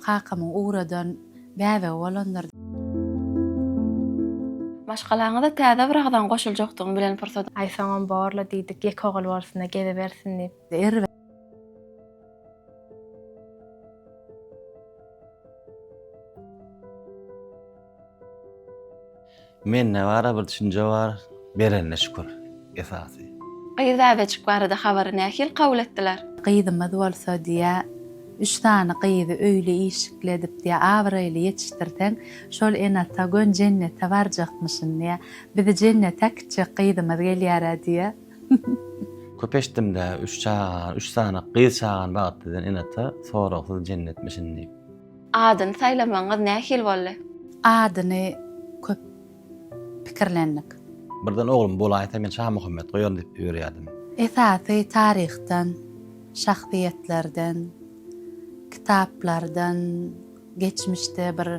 Kakamyň ugradan bäbegi bolandyr. Maşgalaňyza täze bir agzaň goşuljakdygyň bilen pursat. Aý soňam bor-la diýdik, ýeke ogul bolsun-da gezibersin diýip. Erbet. Mende bara bir düşünje bar berenine şükür esasy. Gyz bäbejik barada habary nähili kabul etdiler? Gyzymyz bolsa diýä üç sany gyzy öýli işikli edip diýä abraýly ýetişdirseň şol ene ata gön jennete barjakmyşyn diýä bizi jennete äkitjek gyzymyz gelýärä diýä. Köp eşitdimdä üç çagany üç sany gyz çagany bagytly eden ene ata soragsyz jennetmişin diýip. Adyny saýlamagyňyz nähili boldy? Adyny köp pikirlendik. Birden oglum bolaýsa men Şamuhammet goýaryn diýip ýörýärdim. Esasy taryhdan, şahsyýetlerden, kitaplardan, geçmişde bir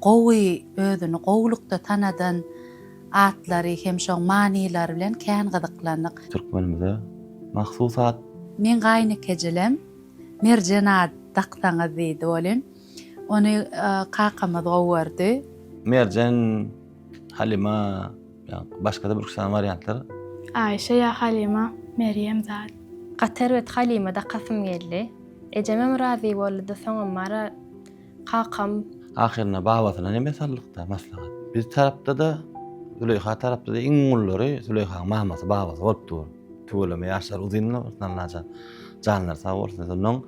gowy özüni gowulykda tanadan atlary hem şoň manylary bilen kän gyzyklandyk. Türkmenimize mahsus at. Meň gaýynekejilem Merjen at daksaňyz diýdi welin, ony kakamyz gowy gördi. Merjen, Halyma, ýa-da başga-da bir-iki sany wariantlar. Aýşe ýa Halyma, Merjem zat. Gaty erbet Halyma dakasym geldi. Ejemem razy boldy-da, soňam Mara. kakam. Ahyrynda babasyna neme sallykda maslahat. Biz tarapda-da, Züleýha tarapda-da iň gullary Züleýhanyň mamasy, babasy bolup dur. Tüweleme ýaşlary uzynmy bolsun Allajan. Janlary sag bolsun. Şondan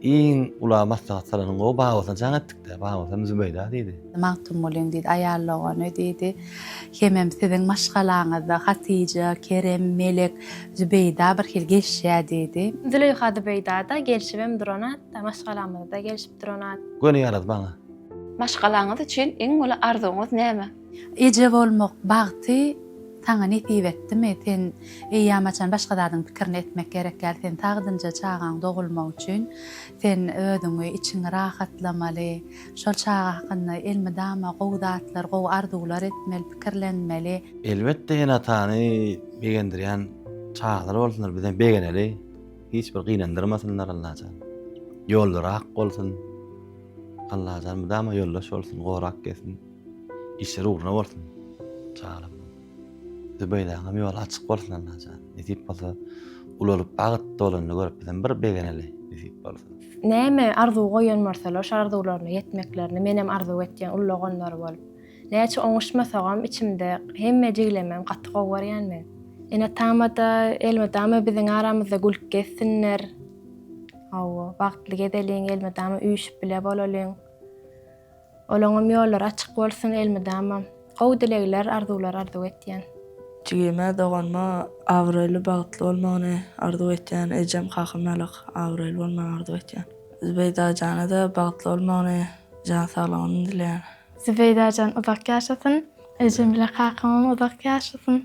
iň ula maslahat salanyň gowy babasyna jaň etdik-dä. Babasam Zübeýda diýdi. Magtymgulyň diýdi, aýal dogany diýdi. Hemem siziň maşgalaňyzda Hatyja, Kerem, Melek, Zübeýda birhili gelişýär diýdi. Züleýha Zübeýda-da gelşibem durana, maşgalamyzda geliş. Astronawt. Göni ýaraz maňa. Maşgalaňyz üçin iň uly arzuwyňyz näme? Eje bolmak bagty saňa nesip etdimi? Sen eýýäm haçan başga zadyň pikirini etmek gerek däl. Sen sagdynja çagaň dogulmagy üçin sen özüňi, içiňi rahatlamaly. Şol çaga hakynda elmydama gowy zatlar, gowy arzuwlar etmeli, pikirlenmeli. Elbetde ene-atany begendirýän çagalar bolsunlar, bizem begeneli. Hiç bir gynandyrmasynlar Allajan. Ýollary ak bolsun. Allajan mydama ýoldaş bolsun, gorap gelsin. Işleri ugruna bolsun. Janym. Zübeýdaňam ýoly açyk bolsun Allajan. Nesip bolsa ulalyp bagt dolanyny görüp bizem bir begeneli nesip bolsa. Näme arzuw goýan bolsalar şo arzuwlaryna ýetmeklerini menem arzuw etýän ullaganlary bolup. Näçe oňuşmasagam içimde hemme jiglemem gaty gowy görýän men. Eneatamada, elmydama biziň aramyzda gülüp gezsinler. Hawa, bagtly gezeliň, elmydama üýşüp bile bolalyň. Olaňam ýollary açyk bolsun elmydama. Gowy dilegler, arzuwlar arzuw etýän. Jigime, doganyma abraýly, bagtly bolmagyny arzuw etýän. Ejem, kakam ýalak abraýly bolmagyny arzuw etýän. Zübeýdajana-da bagtly bolmagyny, jan saglygyny dileýän. Zübeýdajan uzak ýaşasyn. Ejem bile kakamam uzak ýaşasyn.